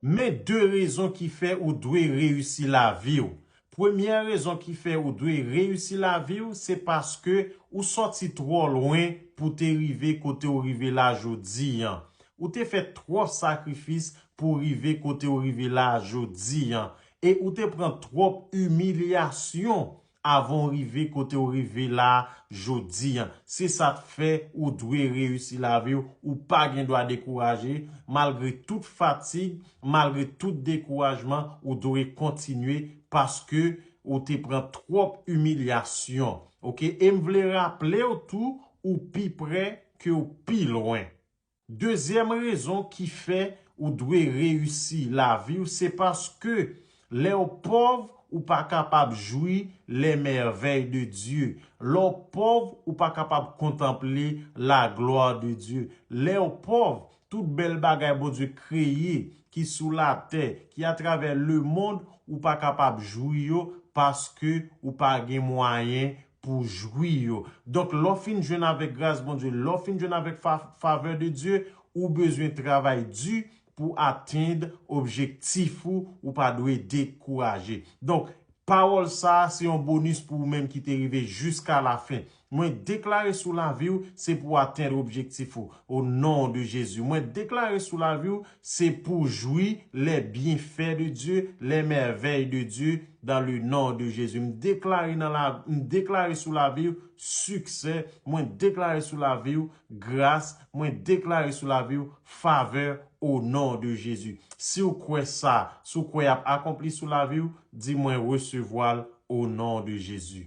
Men 2 rezon ki fè ou dwe reyisi lavi w. Premyè rezon ki fè ou dwe reyisi lavi w se paske ou sòti twò lwen pou te rive kote w rive la jodi an. Ou te fè twòp sakrifis pou w rive kote w rive la jodi an. E ou te pran twòp imilyasyon avan w rive kote w rive la jodi an. Se sa k fè ou dwe reyisi lavi w, ou pa gen dwa dekouraje, malgre tout fatig, malgre tout dekourajman, ou dwe kontinye paske ou te pran twòp imilyasyon ok e m vle raple w tou ou pi prè ke w pi lwen. Dezyèm rezon ki fè ou dwe reyisi lavi w se paske lè w pòv ou pa kapab jwi les merveilles de Dieu, lè w pòv ou pa kapab kontanple la gloire de Dieu, lè w pòv tout bèl bagay Bondye kreye ki sou latè, ki atravè lemond ou pa kapab jwi yo paske ou pa gen mwayen pou w jwi yo. Donk, lè w fin jwenn avèk gras Bondye, lè w fin jwenn avèk favè de Dye, ou bezwen travay di pou w atenn objektif ou, ou pa dwe dekouraje. Donk, pawòl sa a se yon bonis pou ou menm ki te rive jiska lafen. Mwen deklare sou lavi w, se pou w atenn objektif ou, o non de Jezi. Mwen deklare sou lavi w, Se pou jwi lè byenfè de Dye, lè mèvèy de Dye dan le non de Jezi. M deklare nan la, m deklare sou lavi w siksè, mwen deklare sou lavi w gras, mwen deklare sou lavi w favè o non de Jezi. Si w kwè sa, si w kwè y ap akonpli sou lavi w, di mwen resevwa l o non de Jezi.